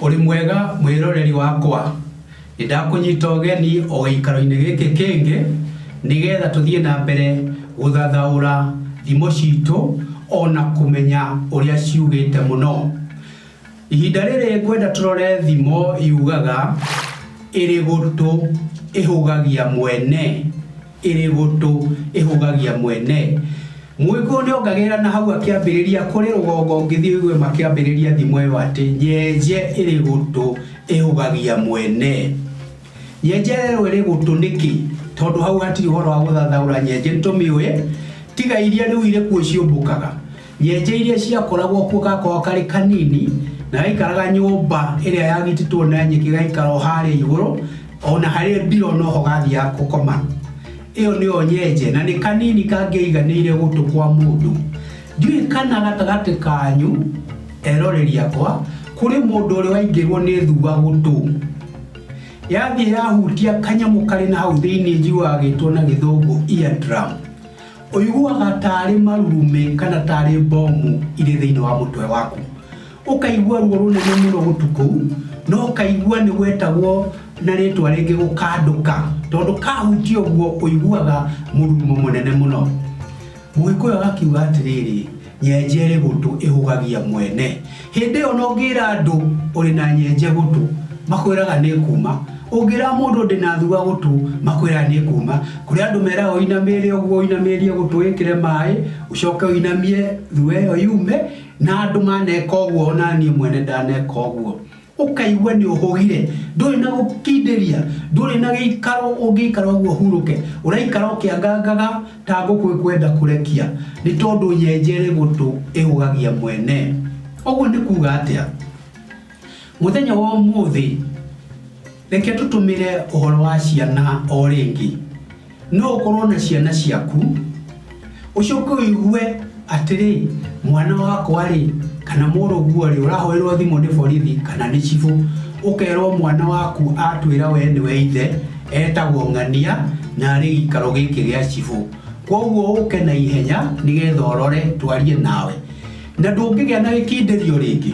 Ũrĩ mwega mwĩroreri wakwa, nĩndakũnyita ũgeni o gĩikaro-inĩ gĩkĩ kĩngĩ nĩgetha tũthiĩ na mbere gũthathaũra thimo citũ ona kũmenya ũrĩa ciugĩte mũno. Ihinda rĩrĩ ngwenda tũrore thimo yugaga ĩrĩ gũtũ ĩhũgagia mwene, ĩrĩ gũtũ ĩhũgagia mwene. Mũgĩkũyũ nĩ ongagĩrĩra na hau akĩambĩrĩria, kũrĩ rũgongo ũngĩthiĩ ũigue makĩambĩrĩria thimo ĩyo atĩ, nyenje ĩrĩ gũtũ ĩhũgagia mwene. Nyenje ĩyo ĩrĩ gũtũ nĩkĩ? Tondũ hau hatirĩ ũhoro wa gũthathaũra nyenje nĩ tũmĩũĩ, tiga iria rĩu irĩ kuo ciũmbũkaga. Nyenje iria ciakoragwo kuo gakoragwo karĩ kanini na gaikaraga nyũmba ĩrĩa yagitĩtwo na nyeki gaikara o harĩa igũrũ o na harĩ mbiro noho gathiaga gũkoma. Ĩyo nĩyo nyenje na nĩ kanini kangĩaiganĩire gũtũ kwa mũndũ. Ndiũĩ kana gatagatĩ kanyu eroreri akwa kũrĩ mũndũ ũrĩ waingĩrwo nĩ thua gũtũ. Yathiĩ yahutia kanyamũ karĩ na hau thĩinĩ njiguaga gĩtwo na gĩthũngũ eardrum. Ũiguaga ta arĩ marurumĩ kana ta arĩ mbomu irĩ thĩinĩ wa mũtwe waku. Ũkaigua ruo rũnene mũno gũtu kũu, no ũkaigua nĩ gwetagwo na rĩtwa rĩngĩ gũkandũka, tondũ kahutia ũguo ũiguaga mũrurumo mũnene mũno. Mũgĩkũyũ agakiuga atĩrĩrĩ, Nyenje ĩrĩ gũtũ ĩhũgagia mwene. Hĩndĩ ĩyo na ũngĩra andũ ũrĩ na nyenje gũtũ, makwĩraga nĩ ĩkuuma. Ũngĩra mũndũ ndĩ na thua gũtũ, makwĩraga nĩ ĩkuuma. Kũrĩ andũ meraga ũinamĩrĩre ũguo, ũinamĩrĩrie gũtũ wĩkĩre maaĩ, ũcoke ũinamie thua ĩyo yume, na andũ maneka ũguo o na niĩ mwene ndaneka ũguo. Ũkaigua nĩ ũhũgire, ndũrĩ na gũkindĩria, ndũrĩ na gĩikaro ũngĩikara ũguo ũhurũke, ũraikara ũkĩangangaga ta ngũkũ ĩkwenda kũrekia, nĩ tondũ nyenje ĩrĩ gũtũ ĩhũgagia mwene. Ũguo nĩ kuuga atĩa? Mũthenya wa ũmũthĩ, reke tũtũmĩre ũhoro wa ciana o rĩngĩ. No ũkorwo na ciana ciaku, ũcoke ũigue atĩrĩ, mwana wakwa-rĩ, kana mũrũguo-rĩ, ũrahoerwo thimũ nĩ borithi kana nĩ cibũ, ũkerwo mwana waku atwĩra we nĩwe ithe, etagwo ng'ania, na arĩ gĩikaro gĩkĩ gĩa cibũ. Kwoguo ũke na ihenya nĩgetha ũrore twarie nawe. Na ndũngĩgĩa na gĩkindĩrio rĩngĩ.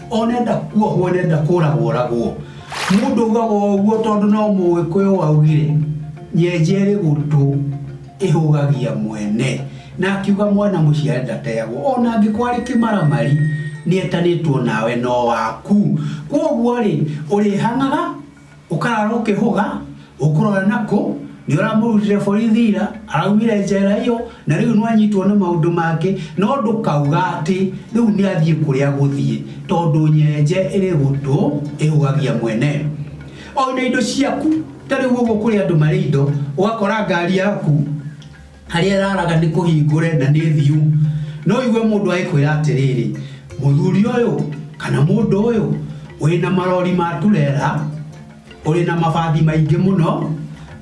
onenda kuohwo nenda kũragwo oragwo mũndũ ugaga ũguo tondũ no mũgĩkũyũ waugire nyenje ĩrĩ gũtũ ĩhũgagia mwene na akiuga mwana mũciare ndateagwo ona angĩkorwo arĩ kĩmaramari nĩetanĩtwo nawe no waku kwoguo rĩ ũrĩhang'aga Ũkarara ũkĩhũga, ũkũrora nakũ, nĩũramũrutire borithi ira, araumire njera iyo, na rĩu nĩwanyitwo nĩ maũndũ mangĩ, no ndũkauga atĩ rĩu nĩathiĩ kũrĩa gũthiĩ, tondũ nyenje ĩrĩ gũtũ ĩhũgagia mwene. O na indo ciaku, ta rĩu ũguo kũrĩ andũ marĩ indo, ũgakora ngari yaku, harĩa ĩraraga nĩ kũhingũre na nĩ thiu no igue mũndũ agĩkwĩra atĩrĩrĩ mũthuri ũyũ kana mũndũ ũyũ ũrĩ na marori ma turera ũrĩ na mabathi maingĩ mũno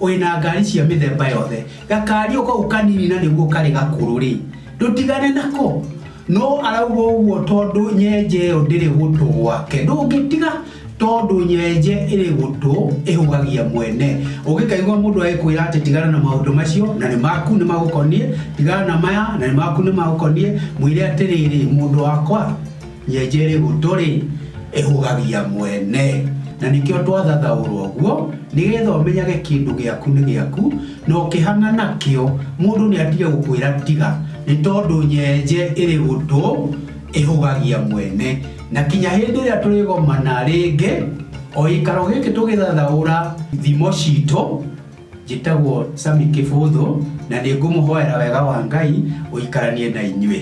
ũrĩ na ngari cia mĩthemba yothe gakari ũkau kanini na nĩguo karĩ gakũrũ rĩ ndũtigane nako No arauga ũguo tondũ nyenje ĩyo ndĩrĩ gũtũ gwake. Ndũngĩtiga tondũ nyenje ĩrĩ gũtũ ĩhũgagia mwene. Ũngĩkaigua mũndũ agĩkwĩra atĩ tigana na maũndũ macio na nĩ maku nĩ magũkoniĩ, tigana na maya na nĩ maku nĩ magũkoniĩ, mwĩre atĩrĩrĩ, mũndũ wakwa, nyenje ĩrĩ gũtũ-rĩ, ĩhũgagia mwene. Na nĩkĩo twathathaũrwo ũguo, nĩgetha ũmenyage kĩndũ gĩaku nĩ gĩaku, Na ũkĩhang'a nakĩo, mũndũ nĩatige gũkwĩra tiga, nĩ tondũ nyenje ĩrĩ gũtũ ĩhũgagia mwene. Na kinya hĩndĩ ĩrĩa tũrĩgomana rĩngĩ, o gĩikaro gĩkĩ tũgĩthathaũra thimo citũ, njĩtagwo Sammy Kĩbũthũ, na nĩ ngũmũhoera wega wa Ngai ũikaranie na inyuĩ.